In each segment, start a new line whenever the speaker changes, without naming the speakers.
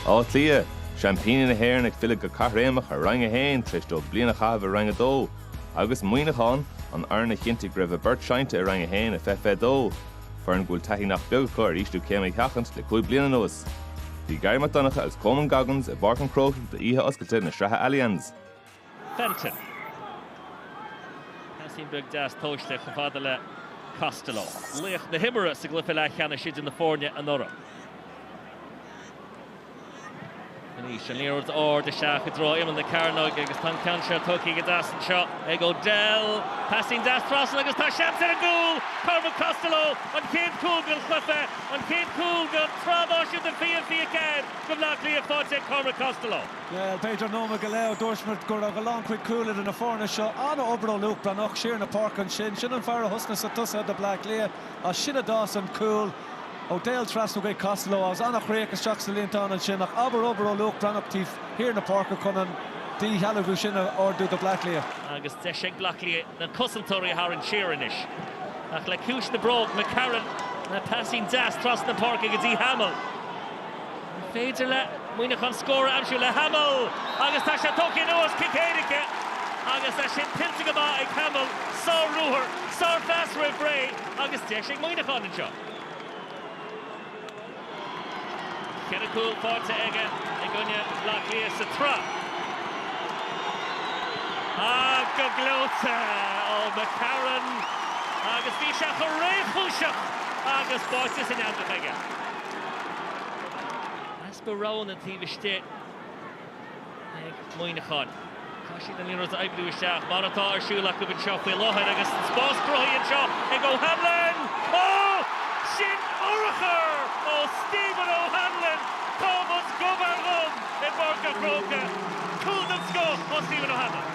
Áth Cliath, Seaimpíní na hÉireann ag filleadh go caithréimeach ar Roinn 1 tar éis dóibh bliain a chaitheamh i Roinn 2, agus Muineachán, an fhoireann a chinntigh go raibh a bport seinnte i Roinn 1 i 2022, foireann go bhfuil taithí nach beag acu ar ísliú céime a sheachaint le cúig bliana anuas. Bhí Garry Mac Donncha agus Coman Goggins i bPáirc an Chrócaigh d'oíche oscailte na sraithe Allianz.
Fenton. Paisín beag deas tomhaiste chomh fada le Costello. Laoch na himeartha sa gcluiche leathcheannais idir na foirne anuraidh. Arís an liathróid ard isteach i dtreo imeall na cearnóige agus tá an ceann seo tógtha go deas anseo ag O'Dell. Paisín deas trasna agus tá seans ar an gcúl! Cormac Costello, an chéad cúl den chluiche, an chéad cúl den tsraith náisiúnta 2024 do Bhleá Cliath faighte ag Cormac Costello. Bhuel, b'fhéidir
nóiméad go leith ó dúirt muid go raibh a lán chuid cúl idir na foirne seo an-obair ó Luke Breathnach siar na páirce ansin. Sin an fear a thosnaigh sa tosaithe do Bleá Cliath. As sin a d'fhás an cúl O'Dell trasna chuig Costello agus an-chríoch isteach sa líontán ansin. Ach abair obair ó Luke Breathnach taobh thiar na páirce chun an díshealbhú sin a ardú do Bleá Cliath. Agus deis ag
Bleá Cliath na cosantóirí a tharraingt siar anois. Ach le ciumhais na bróg, McCarron le paisín deas trasna na páirce go dtí Hamill. An féidir le Muineachán scór a aimsiú le Hamill agus tá sé tógtha anuas. Cic éirice agus tá sin tuillte go maith ag Hamill. Sár-ruathar, sárphas roimh ré agus deis ag Muineachán anseo. Ceithre chúl faighte aige i gcoinne Bhleá Cliath sa tsraith. Ach go gleoite ó McCarron agus bhí sé chomh réchúiseach agus báite san eangach aige. Easpa roghanna taobh istigh ag Muineachán. Tá siad in ann an liathróid a oibriú isteach, mar atá ar siúl acu anseo faoi láthair agus an spás cruthaithe anseo ag O'Hanlon. Ó! Sin urchar ó Stephen O'Hanlon! Táimid gob ar ghob i bPáirc a' Chrócaigh. Cúl den scoth ó Stephen O'Hanlon.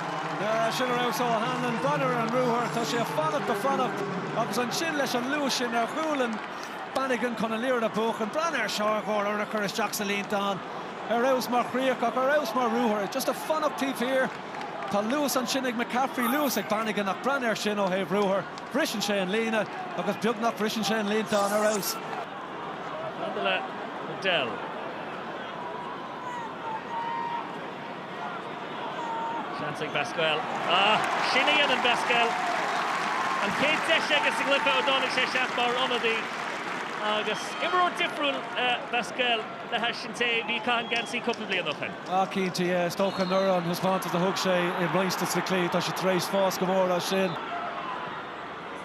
Sin ar
fheabhas ó O'Hanlon. Breathnaigh ar an ruathar, tá sé ag fanacht a' fanacht agus ansin leis an luas sin ar ghualainn. Bannigan chun an liathróid a bhuachan. Breathnaigh air seo d'urchar isteach sa líontán. Ar fheabhas mar chríoch ach ar fheabhas mar ruathar. Just a fanacht taobh thiar. Tá luas ansin ag McCaffrey, luas ag Bannigan ach breathnaigh air sin ó thaobh ruathair. Briseann sé an líne agus beagnach briseann sé an líontán. Ar fheabhas. Maidir
le O'Dell. Seans ag Basquel. Ah, sin a dhéanann Basquel. An chéad deis aige sa gcluiche ó dtáinig sé isteach mar ionadaí. Agus imreoir difriúil é Basquel le hais an té a bhí ag caitheamh an geansaí cúpla bliain ó shin. Ah, cinnte, yeah. Is
dócha anuraidh an taispeántas a thug sé i roinnt de sna cluichí, tá sé tar éis fás go mór as sin.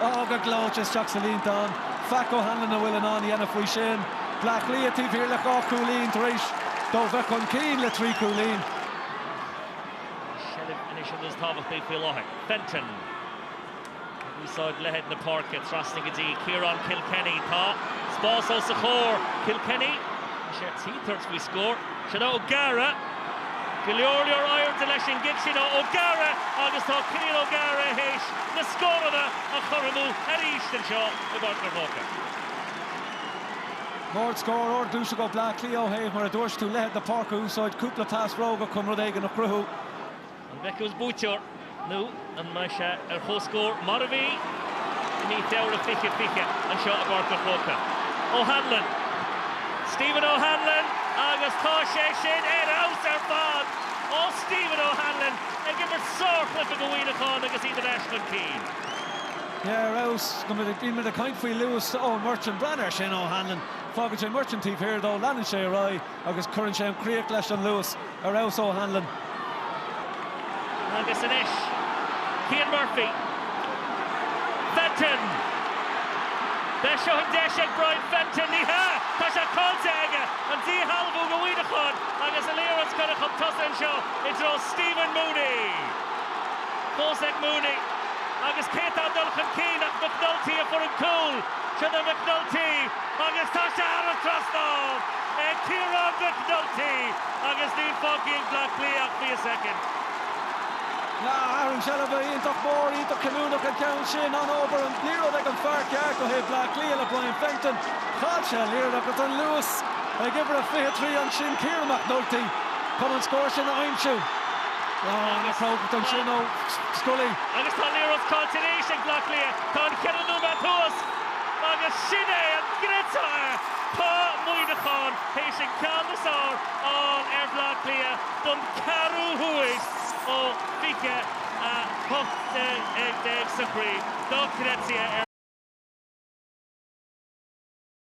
Tá go gleoite isteach sa líontán. Faic O'Hanlon a bhfuil in ann a dhéanamh faoi sin. Bleá Cliath taobh thiar le dhá chúilín tar éis dóibh bheith chun cinn le trí chúilín. An
seilbh anois an rud is tábhachtaí faoi láthair. Fenton ag úsáid leithead na páirce. Trasna go dtí Ciarán Kilkenny. Tá spás os a chomhair. Kilkenny, tá sé ar tí tabhairt faoi scór. Sin é O'Gara. Go leor leor airde leis an gcic sin ó O'Gara agus tá Killian O'Gara théis na scóranna a chothromú arís anseo i bPáirc an
Chrócaigh. Ardscór, ardionsaí ó Bleá Cliath ó thaobh, mar a dúirt tú, leithead na páirce a úsáid, cúpla pas cróga chun rud éigin a chruthú. An
bhfeicfeas buaiteoir nó an mbeidh sé ar chomhscór mar a bhí i mí Feabhra 2020 anseo i bPáirc an Chrócaigh? O'Hanlon, Stephen O'Hanlon agus tá sé sin ar fheabhas ar fad ó Stephen O'Hanlon ag imirt sárchluiche do Mhuineachán agus iad ar ais chun cinn. Yeah, ar
fheabhas. Bhí muid ag caint faoi luas Eoin Murchan. Breathnaigh air sin, O'Hanlon. Fágann sé Murchan taobh thiar dó, leanann sé ar aghaidh. Agus cuireann sé an chríoch leis an luas ar fheabhas
O'Hanlon. Agus anois Cian Murphy. Fenton! Ab é seo an deis ag Brian Fenton, ní hea, tá sé caillte aige! An díshealbhú do Mhuineachán agus an liathróid curtha chun tosaigh anseo i dtreo Stephen Mooney. Fós ag Mooney agus cé tá ag dul chun cinn ach McNulty a fuair an cúl. Sin é McNulty agus tá sé thar an trasnán ag Ciarán McNulty agus níl fágtha
ag Bleá Cliath ach fiche soicind. Athrú seilbhe iontach mór iontach cinniúnach an ceann sin. An-obair, an liathróid ag an fear ceart ó thaobh Bhleá Cliath le Brian Fenton. Chaill sé an liathróid ach an luas ag uimhir a 23 ansin, Ciarán McNulty, chun an scór sin a aimsiú. An-chrógacht ansin ó Scully. Agus tá an liathróid
caillte arís ag Bleá Cliath. Tá an ceithre nóiméad thuas agus sin é an réiteoir! Tá Muineachán théis an ceann is fearr a fháil ar Bhleá Cliath don ceathrú huair ó 2018 sa chraobh. Dochreidte!